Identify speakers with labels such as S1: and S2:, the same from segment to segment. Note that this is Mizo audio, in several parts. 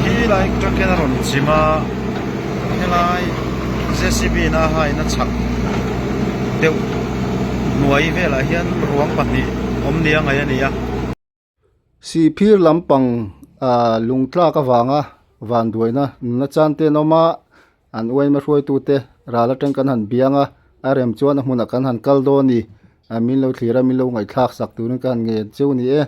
S1: helai truck hian a rawn chim a helai jcb in a high na chhak deuh hnuai velah hian ruang pahnih awm nia ngaih a ni a
S2: sihphir lampang ahh lungtlak avanga vanduaina nuna chante an awm a An uaima hruaitute ral atang kan han biang a, a rem chuan a hmunah kan han kal dawn ni. Min lo thlir a, min lo ngaihthlak sak turin ka han ngen cheu ni e.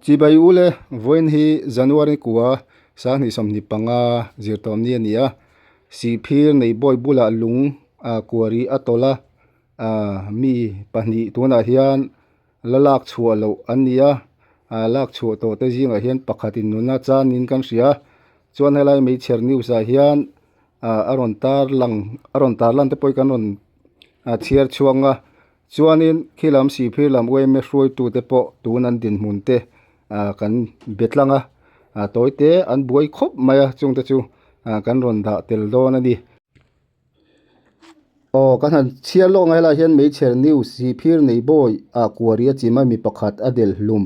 S2: Chibai u le, vawiin hi January kua sanghnih sawmhnih panga zirtawmni a ni a, Sihphir neibawi bulah lung kuari a tawlh a, mi pahnih tunah hian la lak chhuah loh an ni a, lak chhuah tawh te zingah hian pakhatin nuna chanin kan hria, chuan helai Meichher News ah hian a rawn tarlang te pawhin kan rawn chhiar chhuak ang a. Chuanin khilam sihphir lam uaime hruaitute pawh tun an dinhmun te kan be tlang a, tawite an buai khawp mai a, chungte chu kan rawn dah tel dawn a ni. Aw ka han chhiar lawk ang a, helaiah hian Meichher News, Sihphir nei bawi a kuari a chim a mi pakhat a del hlum.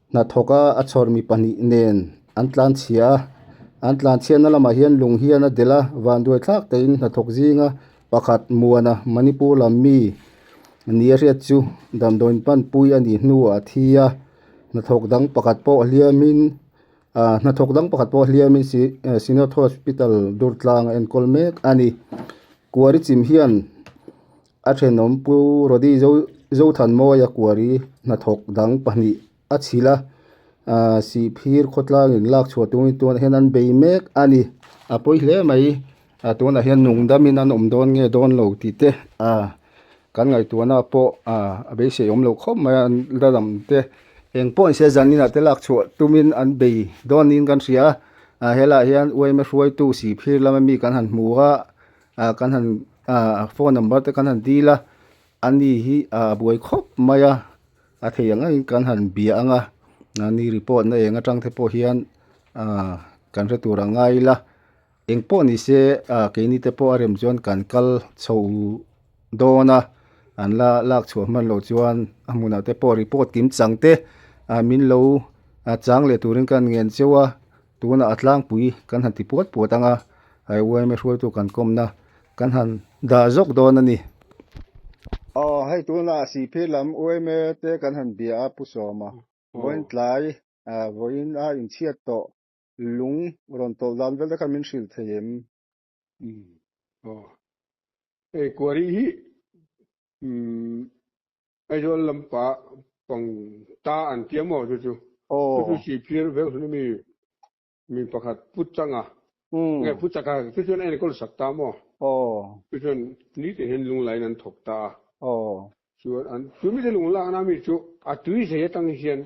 S2: Hnathawka a chhawr mi pahnih nen an tlan chhia a. An tlan chhiatna lamah hian lung hian a del a, vanduai thlak tehin hnathawk zinga pakhat muana Manipur lam mi nia hriat chu damdawiin panpui a nih hnu a thi a. Hnathawk dang pakhat pawh hliamin aah hnathawk dang pakhat pawh hliamin Sinoth Hospital Durtlang a enkawl mek a ni. Kuari chim hian-- A thenawm pu Rodi zo Zothanmawi a kuari hnathawk dang pahnih a chhilh a aah sihphir khawtlangin lak chhuah tungin tunah hian an bei mek a ni. A pawi hle mai a tunah hian nungdamin an awm dawn nge dawn lo tih te aah kan ngaihtuahna pawh aah a beisei awm loh khawp mai a an la lang te eng pawh nise zaninah te lak chhuah tumin an bei dawn niin kan hria a aah helaiah hian uaima hruaitu sihphir lama mi kan han hmu a. A kan han ah phone number te kan han dil a ani hi ah a buai khawp mai a a thei ang angin kan han bia ang a ah ni report na eng atang te pawh hian ah kan hre tur a ngai ila eng pawh ni se ah keini te pawh a rem chuan kan kal chho dawn a an la lak chhuah hman loh chuan a hmun ah te pawh report kim chang te ah min lo ah chang leh turin ka han ngen cheu a. Tunah a tlangpui kan han ti puat puat ang a, ai uaime hruaitu kan kawmna kan han dah zawk dawn a ni. Aw, hei tunah Siphir lam uaime te kan han bia a, Pu Sawma. Vawiin tlai, vawiin a inchhiat tawh lung rawn tawlh dan vel te khan min hrilh thei em?
S3: Hei kuari hi Aizawl lam pah pang ta an tia maw chu chu? Chu chu Sipir vek hlun ami mi pakhat Pu Changa, nge Pu Chaka chu chuan a enkawl sak ta maw? Chu chuan ni teh hian lung lain an thawk ta a. Chuan an chu mite lung lakna mi chu a tui zai atang hian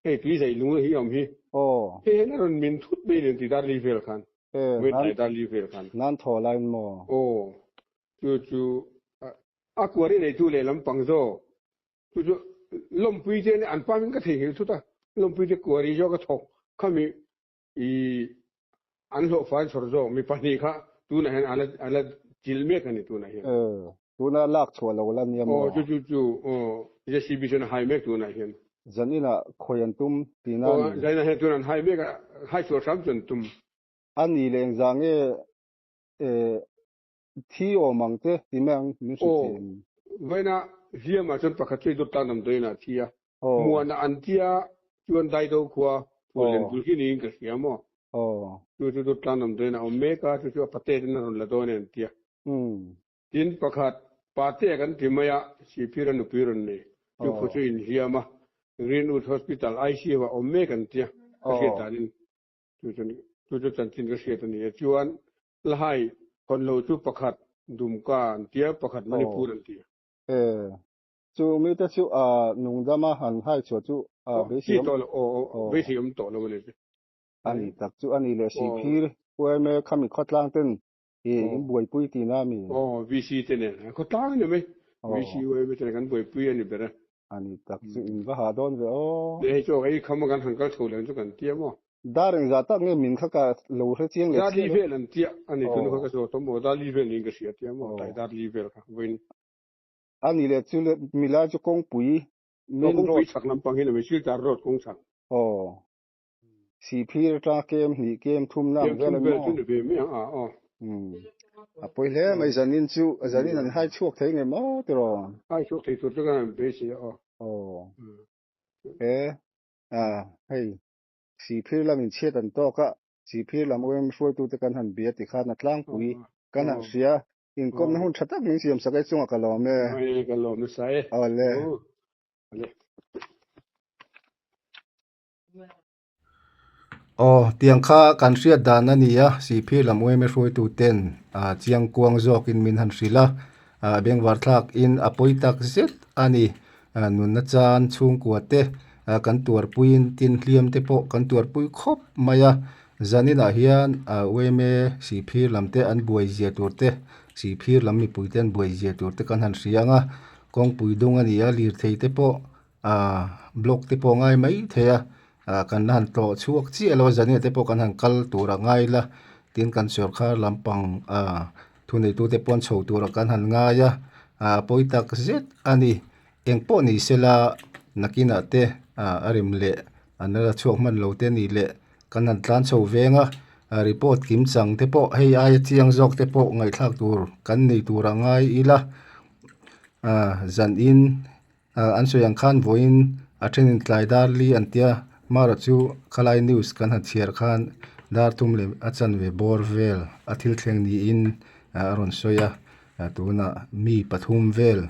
S3: Hei tui zaih lung hi awm hi. Aw. Hei hian a rawn min thut mai nen ti darli vel khan. E. Nan. Tlai darli vel khan. Nan thaw lain maw. Aw.
S2: Chu
S3: chu a kuari nei tu leh lampang zawk chu chu Lawmpui te nen an pam in ka thei nghil thut a, Lawmpui te kuari zawk a thawk khami I an hlawhfai chhawr zawk mi pahnih kha tunah hian ala ala chilh mek a ni tunah hian. Aw. Tunah lak
S2: chhuah lo la nia maw? Aw chu chu chu.
S3: Aw. JCB chuan a hai mek tunah hian. Zain inah khawi
S2: an tum ti na a ni. Aw zain ah hian tunah an hai
S3: mek a, hai chhuah hram chu an tum. A ni leng
S2: zang e. E. Thi awm ang che, ti mek ang min hre thei em? Aw, vaina
S3: hliam ah chuan pakhat chu i dawt tan ang dawiin a thi a, muan a an tia chuan Daido khua phur len bul hi niin ka hria maw? Chu chu dawt tan ang dawiin a awm mek a, chu chu a pate ten a rawn la dawn em? ti a. Tin pakhat, Pate a kan ti mai a, Siphir a nupui rawn nei, chu khaw chu in hliam a, Greenwood Hospital, ICU, ah awm mek an tia, ka hriat danin chu chuan chu chu chanchin ka hriat a ni a chuan La hai, hawn lo chu pakhat Dumka an tia, pakhat Manipur an tia. Aw. Eh.
S2: Chu mite chu nung dama an hai chhuah chu beisei awm. Ti
S3: tawh lo.
S2: Aw
S3: aw aw.
S2: Beisei
S3: awm tawh lo a ni.
S2: A
S3: ni tak chu a
S2: ni leh
S3: si
S2: phir.
S3: Khuaime
S2: khami khawtlang ten hi in buaipui tina a mi. Aw
S3: VC te nen a khawtlang em e. VC Khuaime ten kan buaipui a ni ber a. A ni tak chu
S2: in va hah dawn ve aw. Hei chu hei khama
S3: kan han kal chho lem chu kan tia maw. Da reng za tak
S2: nge min kha ka lo hre chiang leh chiah a. Darli vel an tia a ni tun kha
S3: ka zawt awm aw darli vel niin ka hria a tia a maw tai darli vel kha vawiin.
S2: A ni leh chule milai chu kawngpui main road.
S3: Kawngpui chhak lampang hi la meh siltar road kawng chhak. Aw
S2: siphir ata kem hnih kem thum na ang vel a ni maw. Kem thum vel chu ni ve mai
S3: ang a aw. Umm a pawi hle mai
S2: zanin chu zanin an hai chhuak thei ngei maw tir aw. Hai
S3: chhuak thei tur taka an beisei a aw. Aw he a hei
S2: Sihphir lam in chhiat an tawk a, sihphir lam awm hruaitu te kan han bia ti khan a tlangpui kan han hria, inkawmna hun tha tak
S3: min siam sak e, chungah ka lawm e. Awle, ka lawm nasa e. Awle. Awle. Aw,
S2: tiang kha kan hriat dan a nia, sihphir lam awm e hruaitu ten chiang kuang zawk in min han hrilh a, Bengvar thlak in a pawi tak zet a ni. Nunna chan chhungkua te, kan tuarpuiin tin hliam te pawh kan tuarpui khawp mai a. Zaninah hian UMA Sihphir lam te an buai zia tur te, Sihphir lam mipui te an buai zia tur te kan han hria ang a. Kawngpui dung a nia, lirthei te pawh Aaa block te pawh a ngai mai thei a, aaa kan la han tlawh chhuak chiah lo a, zania te pawh kan han kal tur a ngai la, tin kan sawrkar lampang aaa thuneitu te pawh an chho tur kan han ngai a, aaa a pawi tak zet a ni, eng pawh ni se la nakinah te aaa a rem leh an la la chhuak hman lo te nih leh kan han tlan chho veng a, a report kim chang te pawh hei aia chiang zawk te pawh ngaihthlak tur kan nei tur a ngai ila, aaa zan in An sawi ang khan vawiin a thenin tlai dar li an tia, Mara chu Khalai News kan han chhiar khan dar thum leh a chanve bawr vel a thil thleng niin a rawn sawi a, tunah mi pathum vel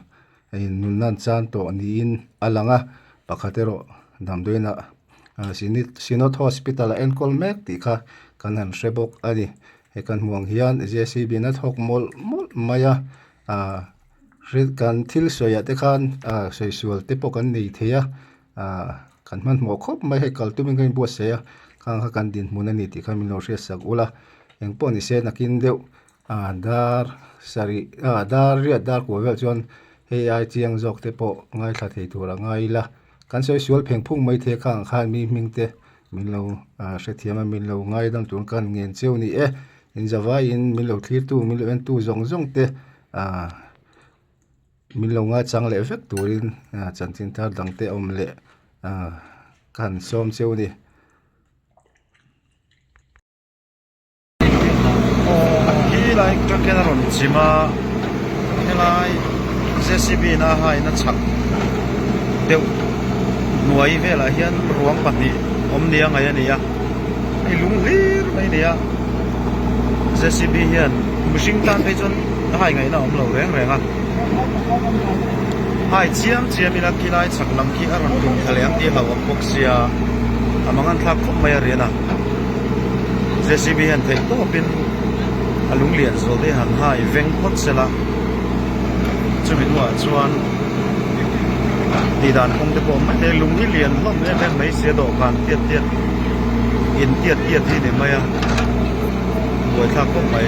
S2: in nunna an chang tawh niin a lang a, pakhat erawh damdawiinah Synod Hospital a enkawl mek tih kha kan han hre bawk a ni, hei kan hmuh ang hian JCB-na thawk mawlh mawlh mai a. Hrilh kan thil sawiah te khan sawi sual te pawh kan nei thei a, kan hmanhmawh khawp mai hei kal tumin ka inbuat saih a, khang kha kan dinhmun a ni tih kha min lo hriat sak ulh a, eng pawh ni se nakin deuh dar sarih dar riat dar kua vel chuan hei ai chiang zawk te pawh ngaithla thei tur a ngai ila, kan sawi sual
S1: pheng phung mai thei khang khan mi hming te. Min lo hrethiam a, min lo ngai dang chuan ka han ngen chiu ni e, inzavaiin min lo thlirtu, min lo entu zawng zawng te min lo ngaichang leh vek turin chanchin thar dang te awm leh ka han sawm chiu a ni. helai ka khian a rawn chim a helai jcb in a hai na chhak deuh hnuai vel ah hian ruang pahnih awm nia ngaih a ni a hei lung hlir mai a ni a jcb hian mihring tan phei chuan a hai ngaih na a awm lo reng reng a hai chiam chiam in a khilai chhak lam khi a rawn tum thlaleng tirlo ang bawk sia a manganthlak khawp mai a rian a. jcb hian theih tawp in a lung lian zual daih han ha i veng phawt se la chumi hnungah chuan tih dan kawng te pawh awm mai e lung hi lian hlawm em em mai sia dawhkan tiat tiat in tiat tiat hi ni mai a buai thlak khawp mai.